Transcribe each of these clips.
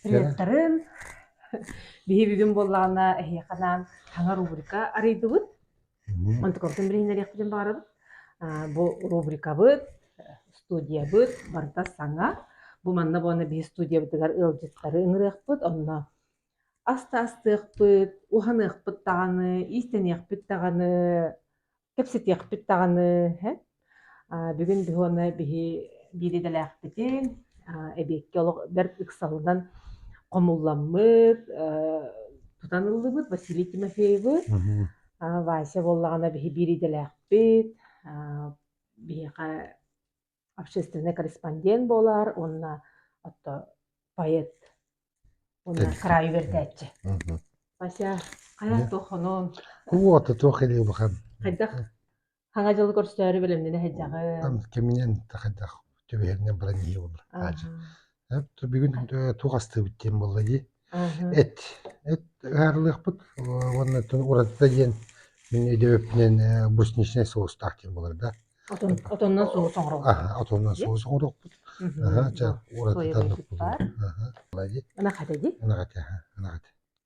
Рецторын биһи бүгүн буоллаҕына эһиэхэнаан таҥа рубрика арыйдыбыт. Онтукабытын билиһиннэриэхпитин баҕарабыт. Бу рубрикабыт, студиябыт барыта саҥа. Бу манна буолана биһи студиябытыгар ыалдьыттары ыҥырыахпыт, онно аста астыахпыт, уһаныахпыт даҕаны, иистэниэхпит даҕаны кэпсэтиэхпит даҕаны һэ а, бүгүн биһуоны биһи биир идэлээхпитин а, эбиэкки олох бэрт ыксалынан хомулламмыт э, тутан ыллыбыт Василий Тимофеевы а, Вася буоллаҕына биһи биир идэлээхпит а, биһиэхэ общественный корреспондент буолар уонна отто поэт уонна кыраайы үөрдээччи Вася хайа туохунун куота туох илиубахан хайдах хаҥа дьылы көрсөөрү бэлэмнэнэ сылдьаҕын кэминэн тахайдах түбэһэринэн баран иһи болар аадьы Эр да бүгүн э, туох астыыбыт диэн буолла дии. Мгм. Эт. Эт ыһаарылыахпыт уонна тун уратыта диэн мин өйдөбүпүнэн э, брусничнай соустаах диэн буолар да. Отон, отоннон соус оҥоробут Аһа, отонунан диye. соус оҥоруохпут. Мгм, Аһа, дьэ, уратыта Соя оннук быспыт баар. буолуо. Аһа. Ана хата дии. Ынах эти, аһа, ынах эти.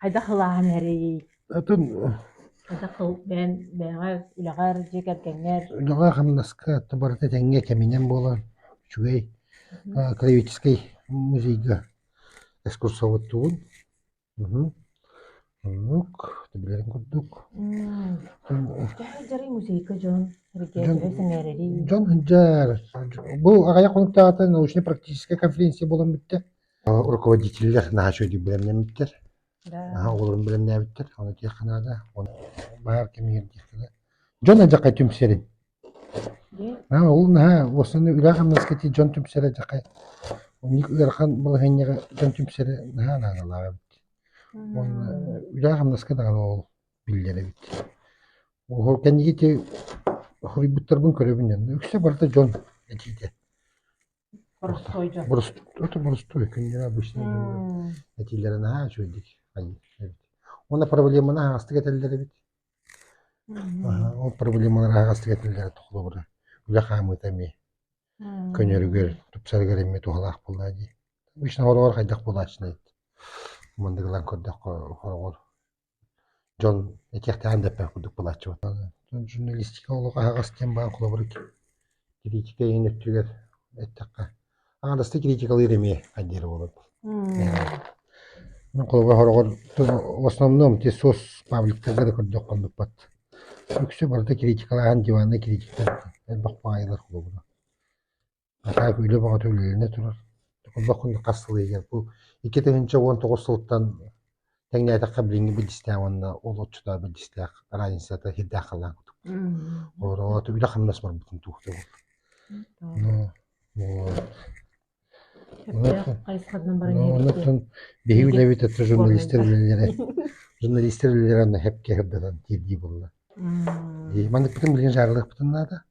хайдах ылааһын эрий атын хайдах ыл бэйэн бэйэҕэр үлэҕэр дьиэ кэргэҥҥэр үлэҕэ хамнаска то барыта тэҥҥэ кэминэн буолар үчүгэй клевическэй музейга экскурсоводтуубун оннук билэрин курдук кэһэ дьарый музейга дьон сэргиэсэрэрий дьон сылдьар бу аҕыйах хонуктаата научнай практическай конференция буолан бүттэ руководителлэр наһаа үчүгэйдик бэлэмнэммиттэр оҕолорун бэлэмнээбиттэр ону этиэххэ наада баар кэмигэр диэххэ да дьон алдьархай түмсэрин ол наһаа уосанна үлэ-хамнаска тиийэ дьон түмсэрэ алдьархай ыарахан балаһыанньаҕа дьон түмсэрэ наһаа наадалаах эбит уонна үлэ-хамнаска даҕаны ол биллэр эбит ол кэнники хоруйбуттарбын көрөбүн үксэ барыта дьон этиитэ Боростуой дьон. Борос- это боростой, книга обычная дьон. М, Этиилэрэ наһаа үчүгэйдик айыы эбит. Уонна проблеманы аһаҕастык этэллэр эбит. мм, Аһа, ол проблемалары аһаҕастык этэллэрэ толобура. Үлэ хаамыыта эмиэ мм. көнөрүгэр, тупсарыгар эмиэ туһалаах буолла дии. Обычно хороҕор хайдах буолааччыный? Мындыгылан көрдөххө хороҕор Дьон этиэхтээх да эппэт курдук былааччыбата. Журналистика олох аһаҕас диэн баҕан холобур кириитика иһин өттүгэр эттэххэ аҥардастан кириитикалыыр эмиэ хайдыыр буолар. Мин холобура сороҕор в основном те сос пабликтарга да көрдөх хоннукпат. Үксэ барыта кириитикалааһын диваннай кириитиктар элбэх баҕайылар холобура. Наһаа үлэ баҕата үлэлэнэ турар. Онно хонук хас сыл иһигэр бу икки тыһыынча уон тоҕус сылтан тэҥнээтэххэ билиҥҥи билдистээх уонна олоччутаа билдистээх разницата сирдээх халаан курдук. Олороото үлэ-хамнас барбытын туохта буол. Ну Онтон биһиги үлэбит это журналистар үлэлэрэ журналистар үлэлэрэ анна хэпке хырдатан тиэрдии буолла. Маннык бытын билген жарылык бытын наада.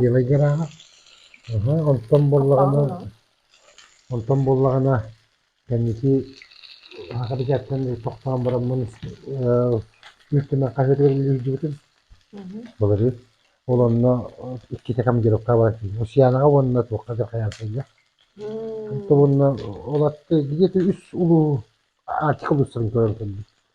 Белай гарааһа аһа онтон буоллаҕына онтон буоллаҕына кэнники бэчээттэн тохтоон бараммын Мүлт Түмэн хаһыатыгар үлэлиирдьибитим. Былырыын. Ол онно иккитэ командировка баран Русьянаҕа уонна туохха дьылхайаан сайда. Ол онно ол атты где-то үс улуу Артик улуустарын көрөн көрдüm.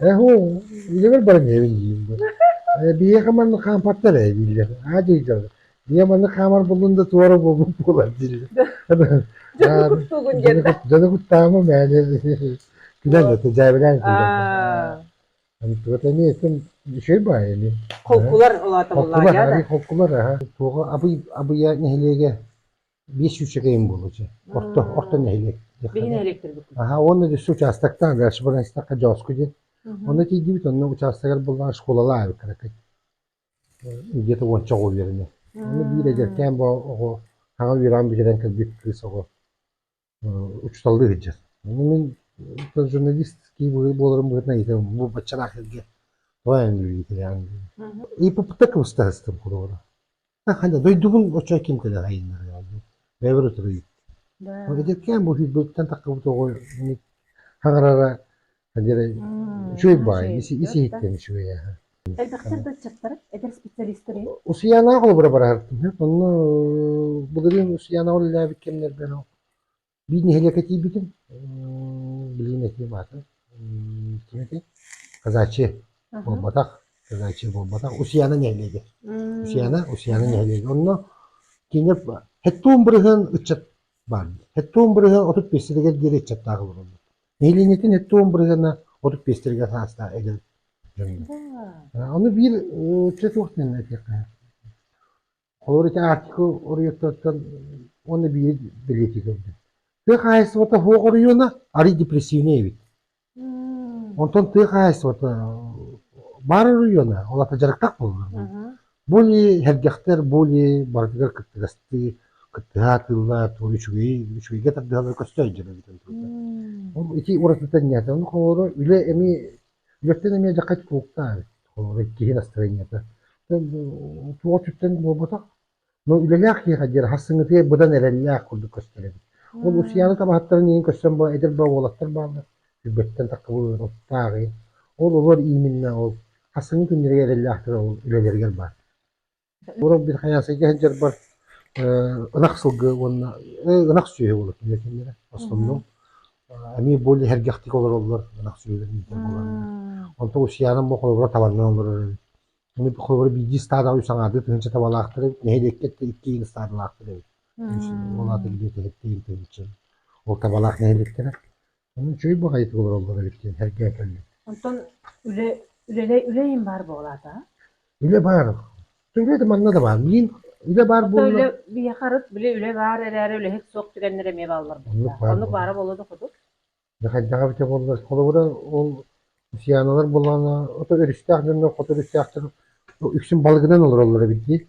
Эһу, ийэбэр баран ийэбин диим дуо? Э, биһиэхэ маннык хаампаттар ээ дииллэр. Аа дии Ийэ маннык хаамар буллун да туора буолбут буолар дииллэр. Дьону куттуугун диэн. Дьону куттаама мээнэ. Күнэн да дьаабилаан Туota эмиэ этим şey баа эми. Холкулар улаатамаллаан. Холкулар аһы. Холкулар аһа. Туоҕа Абыйа нэһилиэгэ биир сүүчэкэйим буолуо орто орто нэһилиэк аhaa уонна үс учаастактаах дальшбанайстахха дьооску диэн ону тиийдибит онно учаастагар буллаҕа школалаах эбиккэракай где-то уонча оҕо үөрэнэ ону биир эдэркээн боо оҕо саҥа үөрэҕин бүтэрэн кэлбит кыыс оҕо учууталлыы сылдьар. Мин журналистский буоларым быһыытынан иитэрим. Бу баччалаах сиргэ тоҕо иитэрээҥ? ИППТ кыбыстаһыстым холобура. Ханя, дойдубун оччо ким кэлэҕэйиннэрэ бэйэбэр утары ыйыт. Эдэркээн бу сирбиттэн таххабыт оҕо хаҥарара үчүгэй баай исиһиттэн үчүгэй аһа элбэхтэр да ыччаттар эдэр специалистары усуйанаах олобура бараһартым онно былырыын усуйанаҕа үлэлээбит кэмнэрбэр биир нэһилиэкэ тиийбитим билигин этием аата ким этэй казачи буолбатах казачи буолбатах усуяна нэһилиэгэ усуяна усуяна нэһилиэгэ онно кинилэр хэттуун бырыһын ыччат баар хэттуун бырыһы отут биэстэтигэр диэри ыччаттаах олороллор нэһилиэнньэтин өттө уомбарыгана отут биэстэргэ саастаах эдэр дьоҥҥо. А, Ону биир өттө суох диэн этиэххэ. Холобур, ити Арктика оройуоттартан уонна биири бэлиэтии көрдүм. Тыа хаһаайыстыбата суох оройуона арый депрессивнэй эбит. Онтон тыа хаһаайыстыбата баар оройуона, ол аата дьарыктах буоллар. Мгм. Бу илии, сэргэхтэр бу илии барытыгар кыттыгастыы, кыттыһа атыыллаат, уон үчүгэй, үчүгэйгэ тардыһаллар көстө өйдөнөр эбитин турда. Ол ити уратыта инньээтэ. Ону холоро үлэ эмиэ, үлэттэн эмиэ дьаххай тулуктаах эбит. Холоро иккиһи настроениета. Туох өттүттэн буолбатах. Но үлэлээх киһиэхэ диэн хассыҥытыйа быдан эрэллээх курдук көстөр эбит. Ол Усияны табаһыттарын иһин көстөн бу эдэр баа уолаттар бааллар. Сүүрбэттэн тахсыбыт оттоох иһин ол олор ииминнээх ол хасыҥы күннэргэ эрэллээхтэр ол үлэлэригэр баар. Орох бир хайаасайга сылдьарбар ынах сылгы уонна ынах сүөһү буолар кинилэр кинилэрэ основном эмиэ более эргэхтик олороллор ынах сүөһүлэрин иитэр буолаллар. Онтон Усьянам бу холобура табанынан олорор эбит. Ону холобура биирдии стадаҕа үс аҥаардыы тыһыынча табалаахтар эбит, нэһилиэккэ иккиин стадаҕаахтар эбит. Ол аата киһи тиһиттиин тыһыынча. Ол табалаах нэһилиэктэрэ Онон үчүгэй баҕайытык олороллор эбит диэн сэргээтэллэр Онтон үлэ үлэлэй үлэйин баар буолаата? Үлэ баар. Үлэ да манна да баар. Мин үлэ баар буолла. Үлэ биһиэхэ арыт били үлэ баар эрээри үлэһит суох түгэннэр эмиэ бааллар буоллаҕа. Оннук баара буолуо да хоту. Хайдаҕа эбитэ буоллар. Холобура ол Сианалар буоллаҕына ото өрүстээх дьоннор хоту өрүстээхтэр үксүн балыгынан олороллор эбит дии.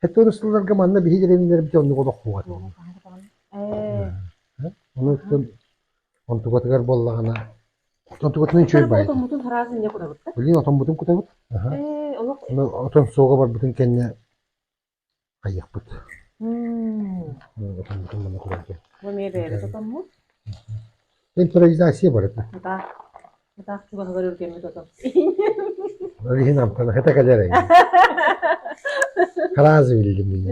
Хэттэ ырыстылларга манна биһиги дэриминнэрбит оннук олох буолар буолуо. Ону үтүн онтукатыгар буоллаҕына онтукатынан үчүгэй баай. Отоммутун хараазын не кутабыт. Блин, отоммутун кутабыт. Э, олох отон суоҕа барбытын кэннэ хайыахпыт. Отоммутун манна кутабыт. Бу эмиэ бэйэбит отоммут. Импровизация барыта. Да. Атаах чугаһыгар үргэммит ото. Ол иһин амтана хата кэлэр эҥин. Харааз биллим мин.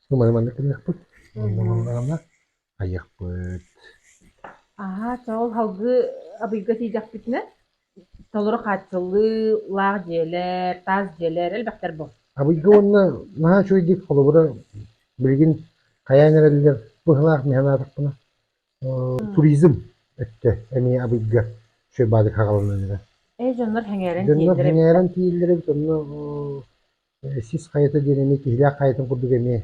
Сумай маннык кэлэхпит. Оннуналарына айыахпыт. Аһаа, чоол халгы абыйга тиийдэхпитинэ Толору хааччыллыылаах дьиэлэр, таас дьиэлэр элбэхтэр бу. Абыйга уонна наһаа үчүгэйдик холобура билигин хайаан эрэллэр быһылаах миһэн аатахпына э, туризм өттө эмиэ Абыйга Шойбаадык хагалынан эрэ. Эй дьоннор сэҥээрэн Дьоннор тиийэллэр эбит. сэҥээрэн тиийэллэр эбит онно э, сис хайата диэн эмиэ киһилээх хайатын курдук эмиэ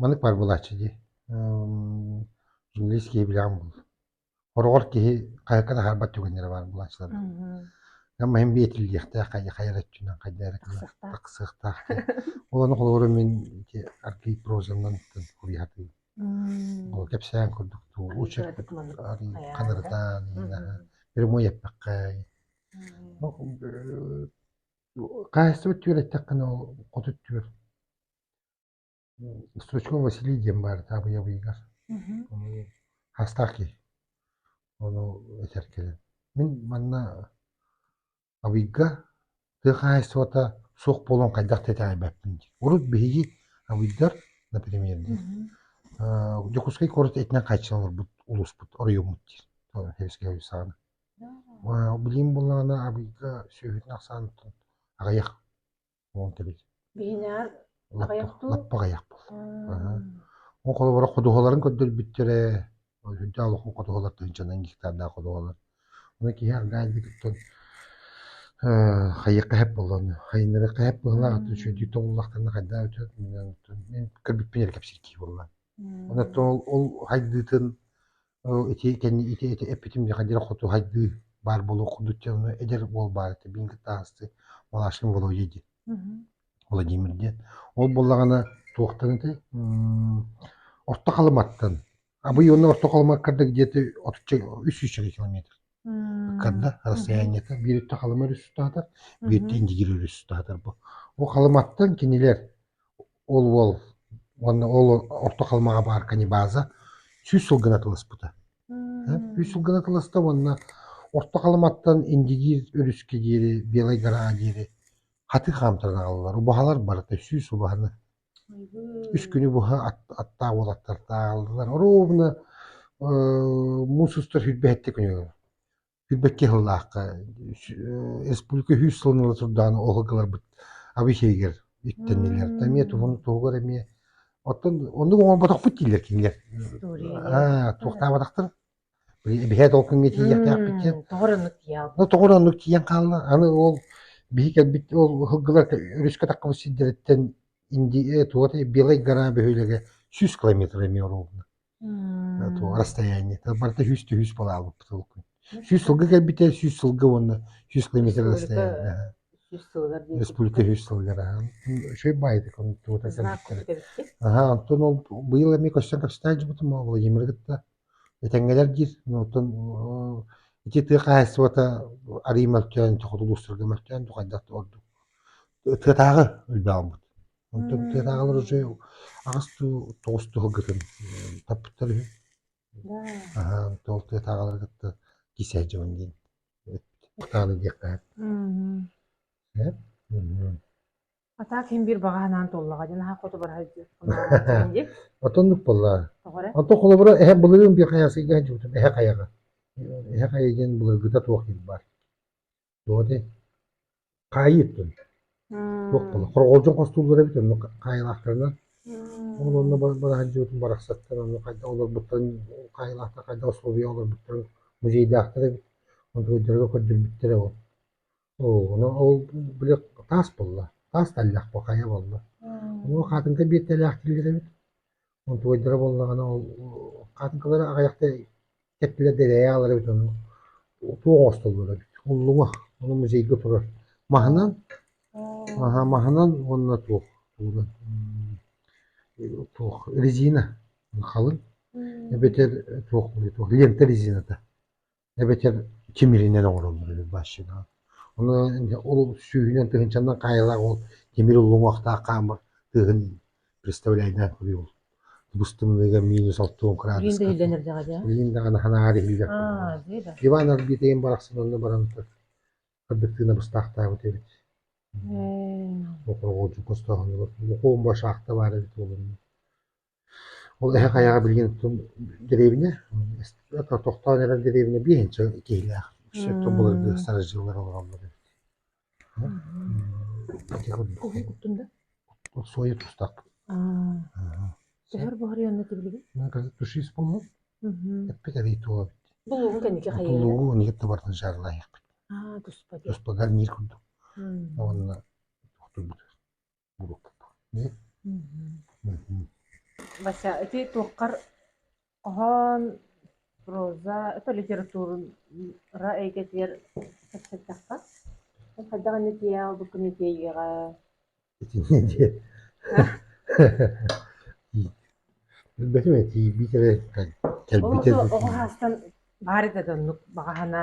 Маннык баар буолааччы дии. Журналист киһи билэҕин буллум. Хороҕор киһи хайыккан аһарбат түгэннэрэ баар буолааччылар. Мин биэтиллиэхтээх, хайа эрэ өттүнэн хайда эрэ тахсыахтаах. Ол ону холобура мин аргыый прозанан уруйхатыым. Ол кэпсээн курдук лучших ханырытаан прямой эппэххэ хаһаайыстыба түөрэттэххинэ хоту түөр Стручков Василий диэн баар это Абыйабыйыгар. Мгм. Ону Хастаах киһи. Ону этэр кэлэн. Мин манна Абыйга тыа хаһаайыстыбата суох буолуон хайдах тэтэҕэйбэппин диир. Урут биһиги Абыйдар, например, диир, Мгм. «Э, Дьокуускай куорат этинэн хааччынан олорбут улууспут, оройуоммут диир. Тоҕо сэбиэскэй оройу саҕана. А, Билигин буоллаҕына Абыйга сүөһүтүн ахсааныттан аҕыйах. Уон кэбис. Биһинээр аҕыйах дуу? Лаппа аҕыйах буолла. Ол холобура ходуһаларын көрдөрбүттэрэ. Ол сүнтэ олох ходуһалар тыһынчанан гектардаах ходуһалар. Ону киһи аргаайдыгыттан хайык кэһэп боллон хайыннары кэһэп буолла атын шөдик толлахтарна хайда өтөт мен көрбүппүн кепсирки болла. Оны ол ол хайдыытын Оо, ити кэннэ ити ити эппитим миэхэ хотуһайдыы баар буолуох курдук дьэ ону эдэр уол баар этэ биин кытаасты Малашин Володя диэн Мгм. Владимир диэн ол буоллаҕына туохтан этэй Орто Халыматтан Абый уонна Орто Халыма кырдык дьиэти отучча үс сүүсчэкэ километр ыккарда мгм. расстояниета биир өттө Халыма өрүс устаатар биир өттө Мгм. Индигир өрүс устаатар бу ол Халыматтан кинилэр Ол уол уонна ол орто халымаҕа баар каннибаза сүүс сыл гына тыласпыта. Сүүс сыл гына тыласта уонна Орто Халыматтан Индигиир өрүскэ диэри, Белай Гараа диэри хатыы хаамтаран аҕаллар. Убаһалар барыта сүүс убаһаны. Үс күнү быһа аттаах уолаттар ааҕаллар. Оруобуна муус устар сүрбэһиттэ күнүгэр Билбэккэ сыллаахха испука үһүс сылын ыла турдаҕына оһылгыларбыт Абыйсэйигэр иттэннилэр. Да эмиэ туһун туһугар эмиэ оттон оннук оҥорботохпут дииллэр кинилэр. Аа, туохтаабатахтар. Биһиэт ол күҥҥэ тиийиэхтээхпит диэн. Тоҕор оннук тиийэҕит. Ну тоҕор оннук тиийэн хаалла. Аны ол биһи кэлбит ол ыһылгылар өрүскэ таххабыт сирдэриттэн инди туота Белай гора бөһүөлэгэ сүүс километр эмиэ оруолунан. Туох расстояние-то барыта сүүс түһүүс балл аалбыппыт сүүс сылга кэлбитэ сүүс сылга уонна сүүс километр расстояние республика сүүс сылыгар үчүгэй баайдык аха онтон ол быйыл эмиэ көстөн кэпсэтэн дьыбытым Владимиры кытта этэҥҥэлэр диир оттон ити тыа хаһаайыстыбата арыый мөлтөөн тохотулуустарга мөлтөөн тухайдах ордук тыатааҕы өлбө аҕалбыт Оттон тыатааҕылар уже аҕыс дуу, тоҕус дуу сылгытын таппыттар үһү. Да. Аһаан тоол тыатааҕылары кытта кисээ дьонун диэн кутааны диэххэ Мм. Эн? Мм. А так иһин биир баҕа санаан туоллаҕа дии наһаа хоту барар дии. дии. Оттоннук буоллаа. Тоҕо эрэ? Онтон холобура эһэ былырыын биир хайа сыйга сылдьыбытым. Эһэ хайаҕа. Эһэ хайа диэн былыргыта туох диир баар. Тоҕо дии? Хаайыыттын. Туох буолла? Хорҕолдьун хостууллар эбит онно хаайылаахтарынан. Ол онно бараһындьыбытын барахсаттар онно хайдах олорбуттарын хаайылаахтар хайдах условия олорбуттарын музейдаахтар эбит. Контрольдарга көрдөрбүттэрэ ол. Оо, ону ол били таас буолла. Таас тэллэх бу хайа буолла. Оноо хаатынка биэртэлээх киллэр эбит. Утуйдара буоллаҕына ол хаатыҥкалары аҕыйахта кэптилэр да илэйэ хаалар эбит ону туох оҥостоллор эбит уллуҥа ону музейга турар маһынан аһа маһынан уонна туох тугунан туох резина халыҥ эбэтэр туох туох лента резината эбэтэр тимиринэн оҥороллор үһү башинаҕа. Ону ол сүүһүнэн тыһыынчанан хаайылаах ол тимир уллуҥуохтаах хаамар тыаһын представляйдаах буруй ол быстымныга минус алты он градус. Билин да даҕа дьэ. Билин даҕаны ханаар иһиллэр. Аа, дии да. Иван Арбитейн барахсан онно баран кырдык тыына быстаахтаабыт эбит. Э. Оқырҕоочу хостооһунугар оқуом ба шахта бар эбит олунна. Ол эһэ хайаҕа билигин оттон дэриэбинэ тохтоон эрэр дэриэбинэ биэһинчэ киһилээх сөптөөх былыргы сарыш дьыллар олороллор эбит сойу тустар тушис буолуо эппит арый туо булугун кэнники тулугу ниет табартын жарлаехпит туспа гарнир курдук уонна Вася, ити туоххар хоһоон, проза, это литература эйгэтигэр кэпсэттэххэ? Хайдах инитиэ албыккын итиэйиэҕэ? Билбэтим эти биитэрэ кэлбитэ. Оҕо саастан баары да оннук баҕаһына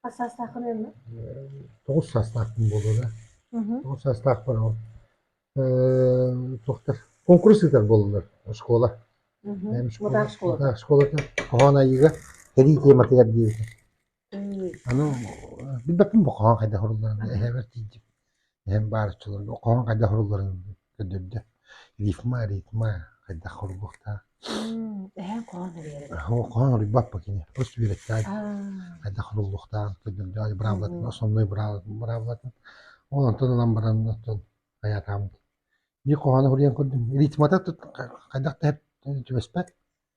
Хас саастааххын ынна? Тоҕус саастаахпын буолуо да. Мгм. Тоҕус саастаахпын ол эм, туохтар куонкурус ыытар буоллулар оскуола. Мгм. Бэйэм школа- Мутаах школа. Мутаах школата хоһоон айыыга сэрии тиэматыгар диэбитим. М, Аны билбэппин бу хоһоон хайдах орулларын эһэбэр тиийдим. Эһэм баарыччыларга хоһоон хайдах сурулларын көрдөрдө. «Рифма, ритма хайдах суруйуохтаа?» Эһэҥ хоһоон суруйар эбит. Хоһоон суруйбаппыт кини. Хос үөрэттэ. Хайдах суруллуохтаах көрдөрдө. Быраабылатын, основной быраабылатын. Ол онтон ылан баран оттон хайаатаабыт. Биир хоһоону суруйан көрдүм. Ритмата хайдах да түбэспэт.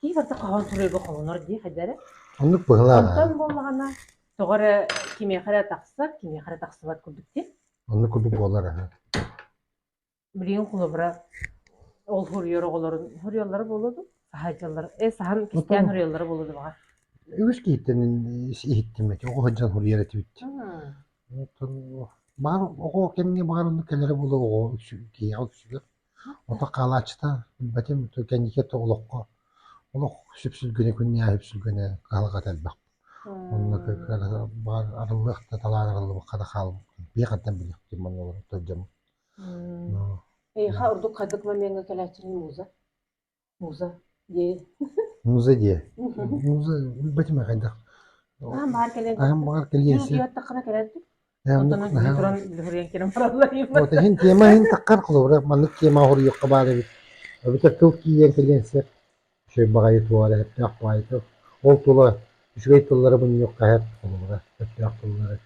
Киевата хаҕын суруйга холонор дии хайдары. Оннук быһылааҕа. Онтон буоллаҕына тоҕо эрэ кимиэхэ эрэ тахсар, кимиэхэ эрэ тахсыбат курдук дии. Оннук курдук буолар аһы. Билигин холобура ол суруйар оҕолорун суруйаллара буолуо дуу, саһайдьаллар, э саһан кистээн суруйаллара буолуо дуу баҕа. Үгүс киһиттэн иһиттим эти, оҕо сылдьан суруйар этибит. Оттон баар оҕо кэмҥэ баар оннук кэлэрэ буолуо оҕо үксү киһиэхэ үксүгэр. Ото хаалааччыта билбэтим кэнники өттө олоххо олох сүпсүлгэнэ күннээх үпсүлгэнэ кыһалҕата элбэх. Онно баар арыллыах да талаан арыллыбакка да хаалбыккын биһиэхэттэн билиэхтиин манна олорор төрдьөммүт. Мм. Эйиэхэ ордук хайдах момеҥҥа кэлээччиний муза? Муза дии. муза дии. муза билбэтим хайдах. Аһан баҕар кэлэн аһан баҕар кэлиэн Дьиҥ сөп. утуйуоттаххына кэлэн тур. Э, оннук Оттон аһан- туран үлүһүрүйэн кэлэн бараллар Вот иһин тиэмэ иһин таххар холобура маннык тиэмэ хоруйуохха баар эбит. Эбэтэр тыл киирэн кэлиэн сөп. Үчүгэй баҕайы туолар эһэттээх баайы тыл. Ол тула үчүгэй тыллары мунньуохха эһэт холобура. Өстөөх тыллары.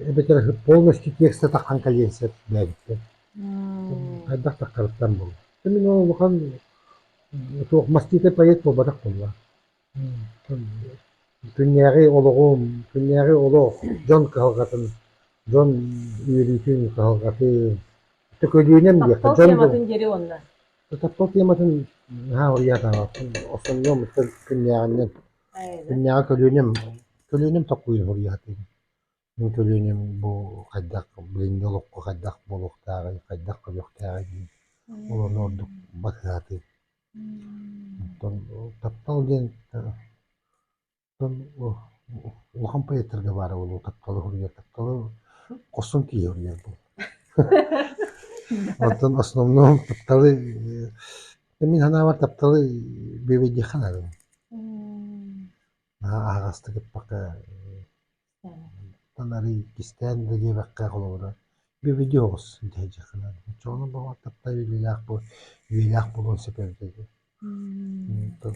эбэтэр полностью текст атаххан кэлиэн сөп диэбиттэр. Хайдах тахтарыттан булла. Мин ол улахан туох маститы поэт буолбатах буолла. Күннээҕи олоҕум, күннээҕи олох дьон кыһалҕатын, дьон үөрүүтүн, кыһалҕатын төкөлүүнэн диэххэ дьон тематын дьери уонна. Таптал тематын наһаа уйаатаабаппын, остонньоммуттан күннээҕинэн Иннээҕи көлүөнэм, көлүөнэм толкуйун уһуруйаатым. Мин көлүөнэм бу хайдах, билиҥҥи олоххо хайдах буолуохтааҕый, хайдах көрүөхтээҕий диэн олону ордук батыһаатым. Оттон таптал диэн оттон улахан поэттарга баара буолуо тапталы уһуруйар, тапталы хорсун киһи уһуруйар буолуо. Оттон основном тапталы Дьэ мин санаабар тапталы бүөбэйдиэххэ наадын. Наһаа аһаҕастык ыппакка оттон арыый кистээн да диэбэккэ холобура бүөбэйдиэ оҕус дии дьиэххэ наада. Оччоҕуна баҕар таптал үөрүүлээх буол үөрүүлээх буолуон сөп эбитэ дии. Оттон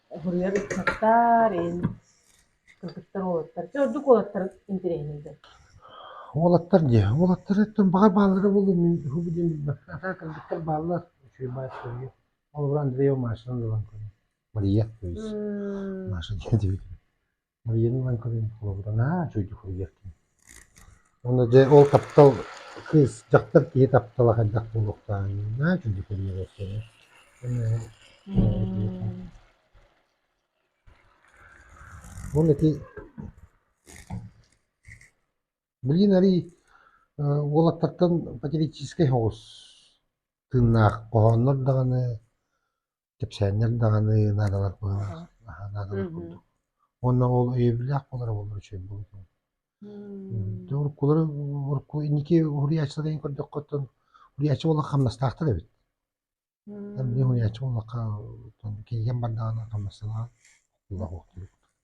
Уһуруйар ыччаттар эн кыргыттар уолаттар чэ ордук уолаттар интэриэһинэйдэр. Уолаттар дии, уолаттар өттүн баҕар бааллара буолуо мин уһу бу диэн билбэт. Атаа кыргыттар бааллар. Үчүгэй баай суруйу. Холобура Андреева Машаны ылан көрүҥ. Мария, то есть. Маша диэн диэбитим. Марина Иванковна холобуранаа үчүгэйдик суруйуохтун. Уонна дьэ ол таптал кыыс дьахтар киһи таптала хайдах буолуохтааҕына үчүгэйдик суруйуохтара. Ол ити Блин арый уолаттартан патриотическай соҕус тыыннаах хоһооннор даҕаны кэпсээннэр даҕаны наадалар быһыылаах наадалар курдук. Уонна ол өйөбүллээх буолара буоллар үчүгэй буолбутун. Уруккулары урукку инники уһуйааччыларын көрдөххөттөн уһуйааччы буоллахха хамнастаахтар эбит. Били уһуйааччы буоллахха кинигэ бардаҕына хамнастанаҕын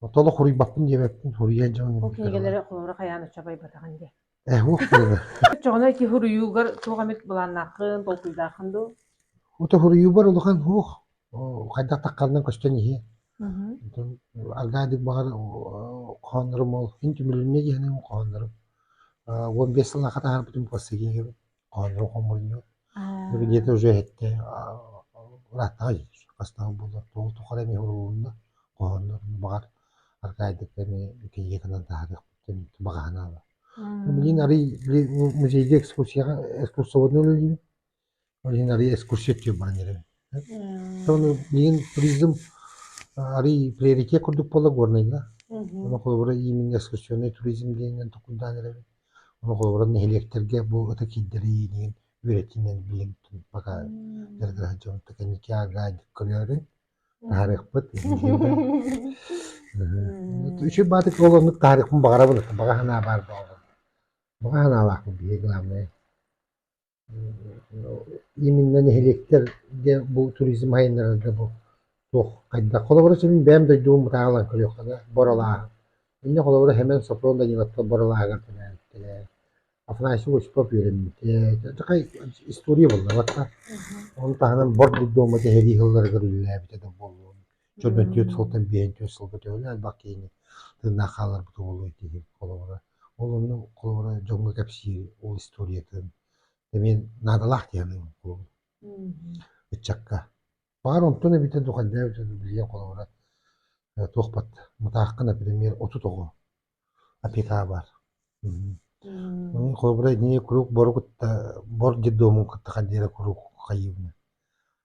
Отоло хоруйбаппын диэбэппин, хоруйан дьон Ол кинигэлэри холобура хайаан оччо байбатаҕын диye. Э, ух тыына. Оччоҕуна ити хоруйуугар туох эмит былааннааххын, толкуйдааххын дуу? Ото хоруйуубар улахан ух хайдах тахханынан көстөн иһиэ. Антон аргаадык баҕар хооннорум ол ин түмүлүннэ диэхинэ хооннорум уон бес сыл аха таһаарбытым классыгиһым Оонньуу хомунньу дьиэтэ уже иһиттэ ырааттаҕа дии бастаан буолла тоҕо тухары эмиэ уурулунна хоһооннорун баҕар архаайдык эмиэ кириэкэнэн таһаарыахпыттан баҕаһын аала билигин арыый музейга экскурсияҕа экскурсоводунан үлэлиибин ол иһин арыый экскурсия түһүн баран иһэрим Аны миин туризм арыый приоритет курдук буолла Горнайга. Ону холобура иимин экскурсионнай туризм диэҥҥин токуйдаан эрэбин. Ону холобура нэһилиэктэргэ бу ыта киирдэрииниин үөрэтиинэн билиҥ пока дьарыктаһар дьонтон кэнники гайд көлөөрүн таһаарыахпыт Үчүгэй баатык олоннук таһаарыахпын баҕарабын. Баҕа санаа баар буоллун. Баҕа санаалаахпын биһиги главное. Именно нэһилиэктэр диэн бу туризм айаннарарга бу туох хайдах холобура сүрүн бэйэм дойдубун бытаалаан көрүөххэ да Боролааһын. Иннэ холобура Хэмэн Сопрон Даниловтар Боролааһыгар төрөөбүттэрэ. Афанасий Осипов үөрэммитэ. Такай история буллабат да. Ону таһынан Бор Дурдума сэһэрии сылларыгар үлэлээбитэ да буолуон. Чөрбөн төрт сылтан биэһин төрт сылга төһөлөөн элбэх киһини тыыннаах хаалларбыта буолуо дии холобура. Ол онно холобура дьоҥҥо кэпсиир ол историятын эмиэ наадалаах диэҕим ыччакка. Баҕар онтун эбитэ духайдаабыт билиэм холобура э, туохпат Мытаахха, например, отут оҕо опекаа баар. Холобура ини куруук бору кытта бор детдомун кытта хандыыра куруук хайыыбына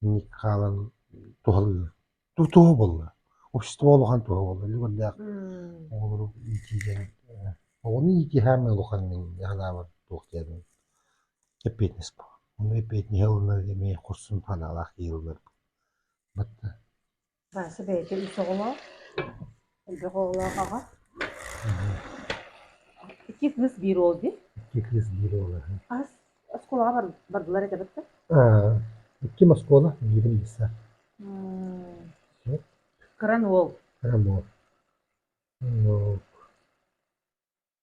инник хаалан туһалыыр. Туоһу буолла. Общество улахан туоһу буолла. Үлүгэрдээх оҕолору иитии диэн оҕону иитиһаамай улахан мин санаабар туох диэбин эппиэтинэс буолар. Ону эппиэтинэс ылынар эмиэ хорсун санаалаах иилылар. Батта Вася бэйэтэ үс оҕолоох, элбэх оҕолоох аҕа. Икки кыыс биир уол дии. Икки кыыс биир уол. Ас оскуолаҕа бар, бардылар этэ баттан? Икким оскуола, биирим лиса. Кыран уол. Кыран уол.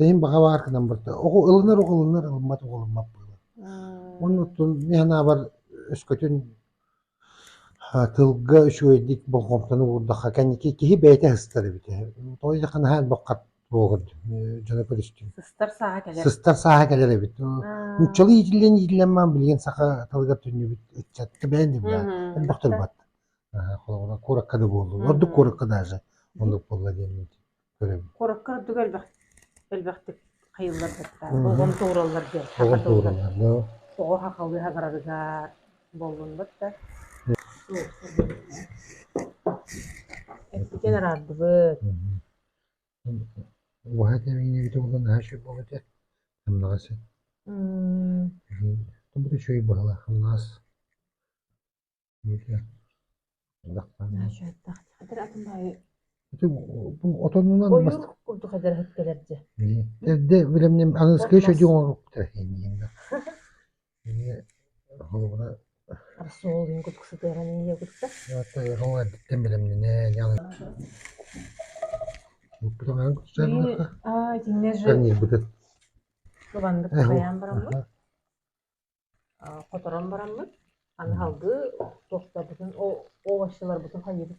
Эйиин баҕа баар гынан барда. Оҕо ылынар оҕолунар, ылыммат оҕолуммат буолар. Онно оттон мин санаабар өскөтүн тылга үчүгэйдик болҕомтону уурдахха кэнники киһи бэйэтэ сыстар эбит. Тоҕо диэтэххэ наһаа албаккат буолар дьоно көрүстүм. Сыстар сааһа кэлэр. Сыстар сааһа кэлэр эбит. Нууччалыы иитиллэн иитиллэн маан билигин саха тылыгар төннүбүт ыччатка бэйэн да баар. Элбэх тыл бар. Холобура куоракка да буоллу. Ордук куоракка даже оннук буолла диэн. Куоракка ордук элбэх элбэхтик хайыыллар дьахтар оҕом туураллар диэн саха тылыгар оҕо сахалыы саҥарарыгар буоллунбат да эппитин араардыбыт убаһа тэмиинигитэ булан наша богате амнаас тобто еще и быһыла амнаас ыланнык хайаан бараммыт хоторон бараммыт, аны салгыы туохтарбытын овощеларбытын хайыыбыт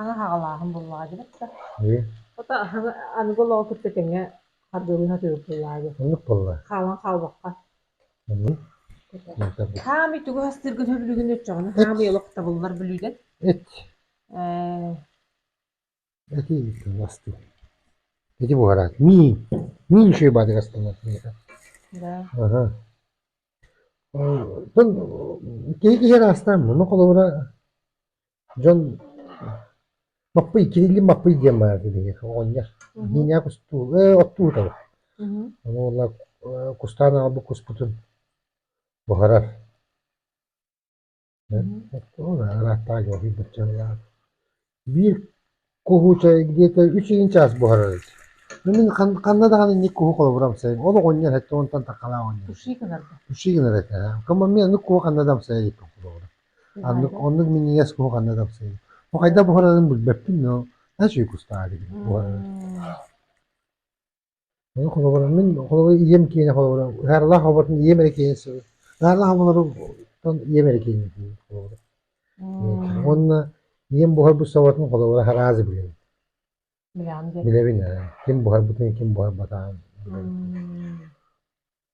Аны хаҕалааһын буллаҕа дилэр да. Хайы? Хата аһыҥы аныгы олоҕу кытта тэҥҥэ хардыылыы сатыыбыт буллаҕа дии. Оннук буолла. Хаалан хаалбакка. Оннук. Хаамый тугу хастыыргын сөбүлүгүн өччөҕүнэ хаамый олох табыллар бүлүүдэн. Эт. Ээ. Ити буолаат, миин, миин шыйбатыгар стандарт киһи киһи ыраастаан муну холобура дьон Маппый, Кириллин Маппый диэн баар биһиэхэ оҕонньор. Миинээх кустуу, э, оттуу таба. Ону уола кустаан аҕалбыт куспутун буһарар. Ол ырааттааҕы уһуйбучча ыйаан биир куһу чай диэтэ үчүгэн чаас буһарар эбит. Ну мин ханна даҕаны инник куһу холобура амсайым. Олох оонньоон эттэ уонтан такалаах оонньоон. Ушей гынарга. Ушей гынар этэ. Кыма мен аны куһу ханна да амсайа диэккин холобура. Аннык оннук минньигэс куһу ханна да амсайым. Бу хайда буһарарын билбэппин но, а чүй кустаах дигин буһарар. Мин холобура мин холобура ийэм киэнэ холобура Ыһыарлаах оборотун ийэм эрэ киэнэ сыылы Ыһыарлаах оборуттан ийэм эрэ киэнэ диир холобура. Уонна ийэм буһарбыт соботун холобура араазы билэбин. Билэҕин диэн. Билэбин ээ. Ким буһарбытын ким буһарбатаҕын билэбин.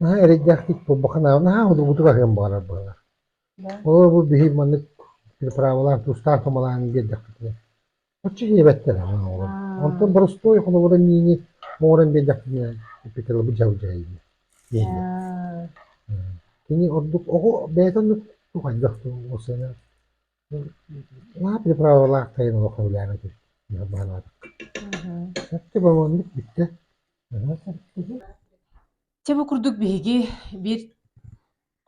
наһаа эрэйдээхтик буолбакка наһаа судургутук аһыан баҕарар быһалар олору бу биһи маннык переправалаан тустаан тумалаан биэрдэхпитинэ оччо иэбэттэр оҕолор онтон боростуой холобурун иини оҥорон биэрдэхпитинэ петролобут дьалдьайыыны дииллэр кини ордук оҕо бэйэтэ оннук хайдах ол сыана Наадыйа правалаах тайын олоххо үлэлээбэт үһү, быһа баалаабакка. Сөпкө бомоннук бүттэ. Аһа, сөпкө дьэ. Чэ бу курдук биһиги биир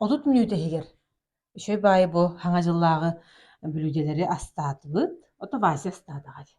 отут мүнүүтэ иһигэр үчүгэй баайы бу Хаҥа дьыллааҕы бүлүүдэлэри астаатыбыт. Ото Вася астаатаҕа дии.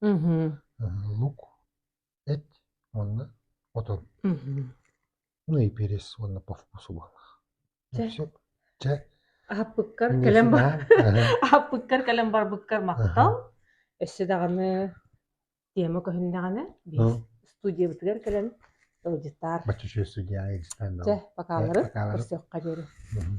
Мгм. лук, эт уонна отон. Мгм. Ну и перец уонна по вкусу булах. И Дьэ, все. Чэ, аһаппыккар инньэ кэлэн бар сынаан. аһаппыккар кэлэн барбыккар Аха. махтал. Өссө даҕаны тема көһүннэҕинэ биир Ну, студиябытыгар кэлэн ыалдьытаар. Путешествие Дьэ, дьэ, пока пока-ларын ларын. көрсүөххэ диэри. Мгм.